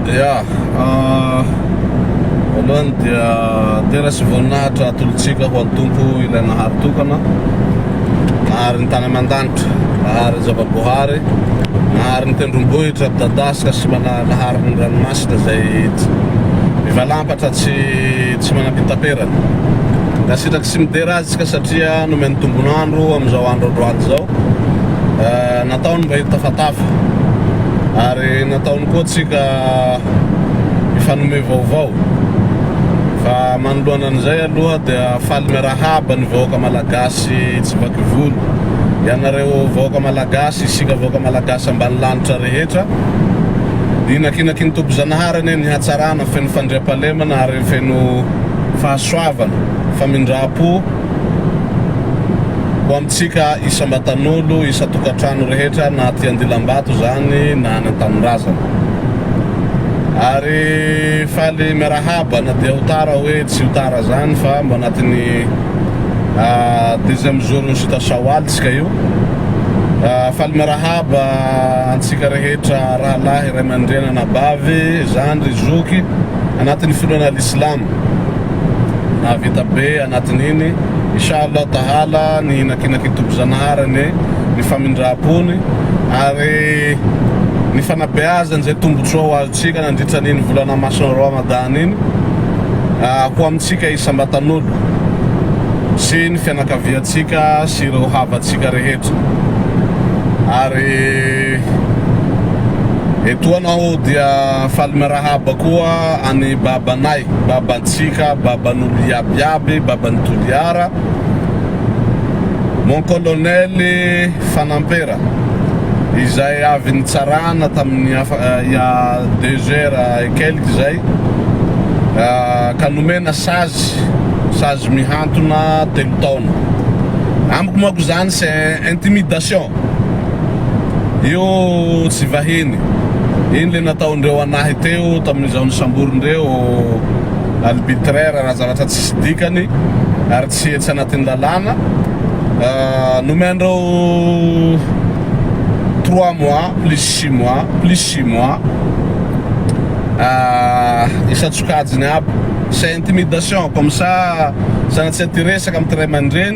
Ya, voalohany dia tena tsy voninahitra atolotsika ho an'ny Tompo ilay Nahary tokana, Nahary ny tany aman-danitra, Nahary ny zava-boahary, Nahary ny tendrombohitra midadasika sy Nahary ny ranomasina izay mivalampatra tsy tsy manam-pitaperana. Ankasitraka sy midera azy isika satria nomeny tombon'andro amin'izao andro androany izao. eh, nataony mba hitafatafa ary nataony koa tsika mifanome vaovao fa manoloana an'izay aloha dia faly miarahaba ny vahoaka malagasy tsy baky volo ianareo vahoaka malagasy isika vahoaka malagasy ambany lanitra rehetra inakinaki ny tompo zanahary anie ny hatsarana feno fandriampalemana ary feno fahasoavana famindram-po Ho amintsika isam-batan'olo, isan-tokantrano rehetra na aty Andilambato izany na any an-tanindrazana. Ary faly miarahaba na dia ho tara hoe tsy ho tara izany fa mba anatin'ny deuxième jour-n'ny Sita Shawwal tsika io. Faly miarahaba antsika rehetra rahalahy, ray aman-dreny, anabavy, zandry, zoky anatin'ny finoana al-Islam. Nahavita be anatin'iny, Insha Allah Tahala, ny hinakinan'I Tompo Zanahary anie ny famindram-pony ary ny fanabeazany izay tombotsoa ho azontsika nandritra an'iny volana masina Ramadan iny ho amintsika isam-batan'olo sy ny fianakaviantsika sy ireo havantsika rehetra. Ary etoana aho dia faly miarahaba koa an'i Baba. Babanay, babantsika, baban'olo iaby iaby, baban'i Toliara, Mon Colonel Fanampera, izay avy nitsarana tamin'ny ia deux heures et quelques izay, ka nomena sazy, sazy mihantona telo taona. Amiko manko izany c'est intimidation. Io tsy vahiny. Iny le nataondreo anahy teo tamin'izao nisamborindreo albitraire raha zavatra tsisy dikany ary tsy etsy anatin'ny lalàna. Nomen'ireo trois mois plus six mois plus six mois isan-tsokajiny aby. C'est intimidation comme ça sanatria te hiresaka amin'ity ray aman-dreny.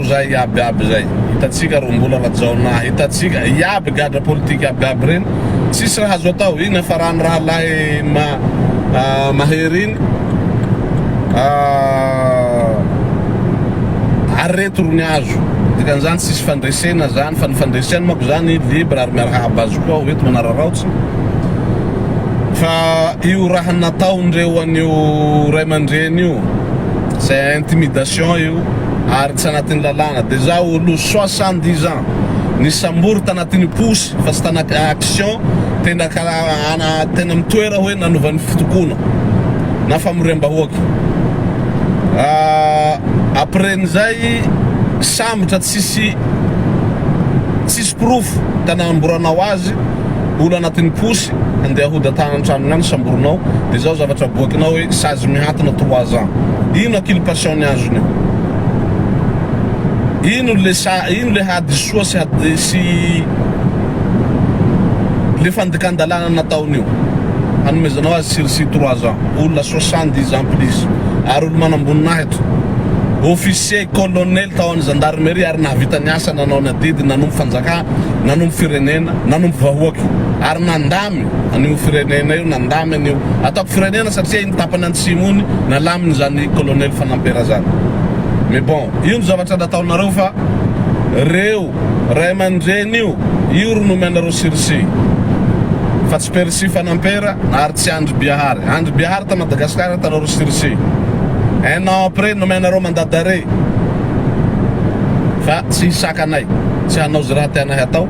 Io zay iaby aby zay hitatsika ro mbola rajaonah hitatsika iaby gadra politika aby aby reny tsisy raha azo atao iny afarany rahalahy ma mahery iny ah ary reto ro ny azo dikan'izany tsisy fandresena zany fa ny fandresena mako zany libre ary miarahaba azy koa aho eto manararaotsy fa io raha nataon'ireo an'io ray aman-dreny io c'est intimidation io ary tsy anatin'ny lalàna dia za olo soixante dix ans nisambory tanatin'ny posy fa tsy tanaty action tena ka ana tena mitoera hoe nanova ny fitokoana na famoriambahoaka ah après n'izay sambotra tsisy tsisy porofo ka nanamboranao azy olo anatin'ny posy andeha hodatana ny tranony any samborinao de zao zavatra aboakinao hoe sazy mihantona trois ans ino aculpation ny azony io? ino le sa ino le hadisoa sy hady sy le fandikandalana nataony io hanomezanao azy sursis trois ans olona soixante dix ans plus ary olo manamboninahitra officier colonel tao an'ny gendarmerie ary nahavita ny asany nanao ny adidy nanompo fanjakana nanompo firenena nanompo vahoaka ary nandamy an'io firenena io, nandamy an'io ataoko firenena satria iny tapany antsimo iny nalamin'izany kolonely fanampera zany mais bon io no zavatra nataonareo fa reo ray aman-dreny io io ro nomenareo sirisy fa tsy perisy fanampera ary tsy andry biahary andry biahary ta madagascar tanareo sirisy un an après nomenareo mandat d'arret fa tsy hisakanay tsy hanao ze raha tianay hatao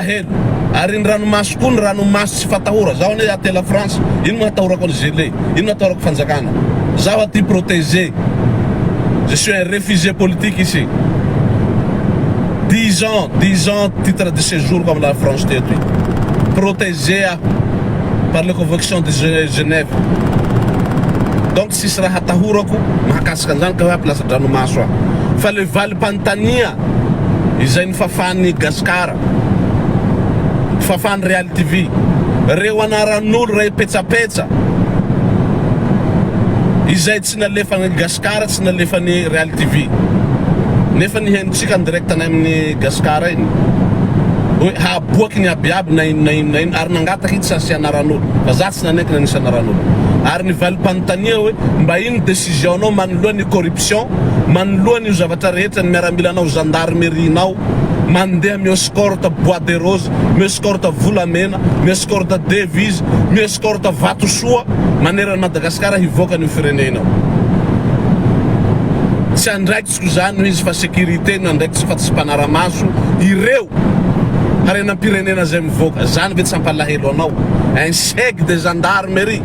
Heno. Ary ny ranomaso koa ny ranomaso tsy fatahora. Zaho anie aty la France, ino no hatahorako an'i Zellé? Ino no atahorako fanjakana? Zaho aty protégé. Je suis un réfugié politique ici. Dix ans, dix ans titre de séjour-ko am la France teto io. Protégé aho par les convections de Genève. Tsisy raha atahorako mahakasika an'izany ka hoe hampilaza-dranomaso aho. Fa ilay valim-panontania izay nofafan'i Gasikara, fafan'i Reality TV, ireo anaran'olo iray petsapetsa izay tsy nalefan'i Gasikara, tsy nalefan'i Reality TV, nefa ny henontsika en direct any amin'i Gasikara iny, hoe hahaboaky ny abiaby na inona inona inona, ary nangataka i Tsasi anaran'olo. Sanaky ny anisana ran'omby. Ary ny valim-panontania hoe, mba ino ny décision nao manoloan ny corruption, manoloan io zavatra rehetra, ny miaramilanao, gendarmerie nao, mandeha mi escorte bois de rose, mi escorte volamena, mi escorte devise, mi escorte vatosoa manerana Madagascar hivoaka an'io fireneinao. Tsy andraikitry. Tsy izany no izy fa sécurité no andraikitra fa tsy mpanaramaso ireo harenam-pirenena izay mivoaka. Izany ve tsy hampalahelo anao? Un cheg de gendarmerie,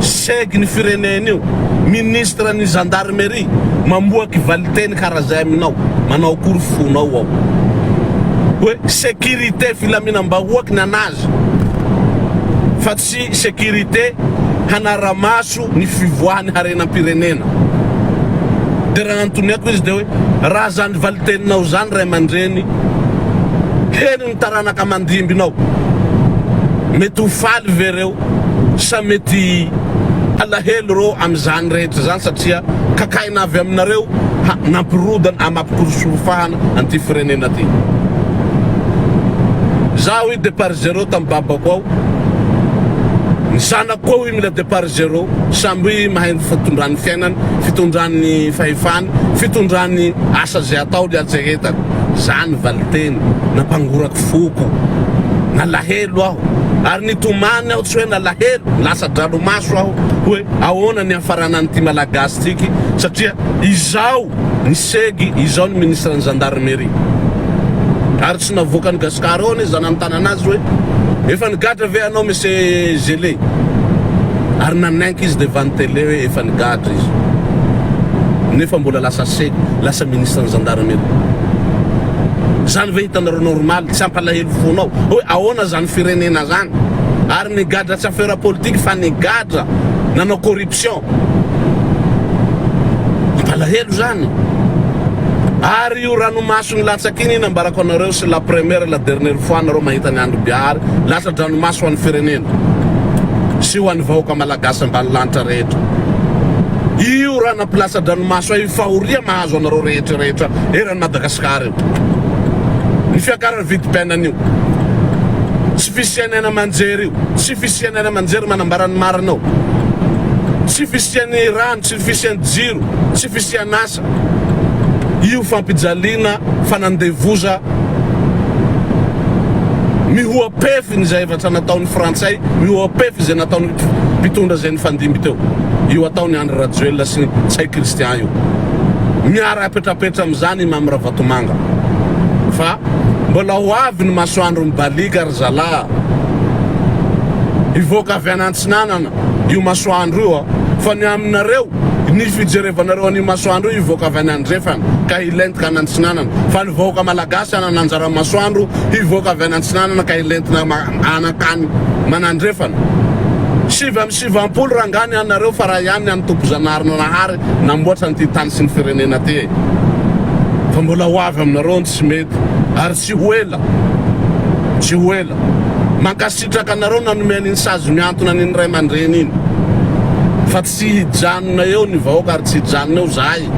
cheg ny firenena io, ministre ny gendarmerie mamoaky valiteny kara izay aminao, manao akory fonao ao? Hoe sécurité filaminam-bahoaky ny anazy fa tsy. sy sécurité hanara-maso ny fivoahan'ny harenam-pirenena. Dia raha anotniako izy dia hoe, raha zany valiteninao zany ray aman-dreny, heno ny taranaka aman-dimbinao, mety ho faly ve reo sa mety halahelo reo amin'izany rehetra izany satria kakaina avy aminareo ha nampirodana amapikorosorofahana an'ity firenena ty? Za hoy de par zero Tam babako ao, ny zanako koa hoy mila depart zero, samby mahay ny fitondran'ny fiainany, fitondran'ny fahefany, fitondran'ny asa zay atao ny hatsehetany. Zany valiteny nampangorako foko. Nalahelo aho. Ary nitomany aho tsy hoe nalahelo, lasa dralomaso aho hoe ahoana ny hiafaranan'ity malagasy tiky satria izao ny segy izao ny ministran'ny gendarmerie. Tsy navoakan'i Gascar ao anie za nanontana anazy hoe efa nigadra ve anao Monsieur Gele? ary nanenky izy devant ny tele hoe efa nigadra izy nefa mbola lasa se lasa ministre ny gendarmerie. Zany ve hitanareo normal? Tsy hampalahelo fona aho hoe ahoana zany firenena zany? Ary nigadra tsy affaire politique fa nigadra nanao corruption Mampalahelo zany. Ary io ranomaso nilatsaka iny iny ambarako anareo c'est la première et la dernière fois nareo mahita an'i Andry Bihary latsa-dranomaso ho an'ny firenena sy ho an'ny vahoaka malagasy ambanilanitra rehetra. Io rana mpilatsa-dranomaso io fahoria mahazo anareo rehetra rehetra eran'i Madagasikara io. Ny fiakaran'ny vidim-piainana io. Tsy fisian'ny haina aman-jery io. Ny fisian'ny any aman-jery manambara ny marina ao. Tsy fisian'ny rano, tsy fisian'ny jiro, tsy fisian'asa. Io fampijaliana, fanandevoza, mihoa-pefiny izay efa nataon'ny frantsay, mihoa-pefy izay nataon'io mpitondra izay nifandimby teo. Io ataon'i Andry Rajoelina sy Ntsay Christian io. Miara apetrapetra amin'izany i Mamy Ravatomanga. Fa mbola ho avy ny masoandro mibaliaka. Zalahy hivoaka avy any antsinanana io masoandro io fa ny aminareo ny fijerevanareo an'io masoandro io hivoaka avy any andrefana ka hilentika any antsinanana fa ny vahoaka malagasy hanana anjara masoandro hivoaka avy any antsinanana ka hilentina anakany manandrefana sivy amby sivampolo rangahy ny anareo fa raha ihany ny an'i Tompo Zanaharinanahary namboatra an'ity tany sy ny firenena ty e fa mbola ho avy aminareo ny tsy mety ary Tsy ho ela, tsy ho ela. Mankasitraka anareo nanome an'iny sazy mihantona an'iny ray aman-dreny iny. Fa tsy hijanona eo ny vahoaka ary tsy hijanona eo zahay.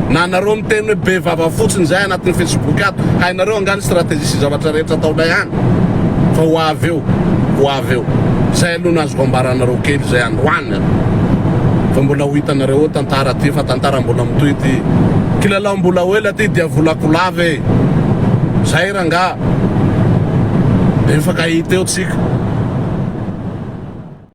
Na nareo miteny hoe be vava fotsiny zahay anatin'ny facebook ato. Hainareo angaha ny stratégie sy zavatra rehetra ataonay any? Fa ho avy eo, ho avy eo. Zay aloha no azoko ambara anareo kely zay androany an. Fa mbola ho hitanareo eo tantara ty fa tantara mbola mitohy ty. Kilalao mbola ho ela ty diavola kolava e. Zay rangaha. Be mifankahita eo tsika.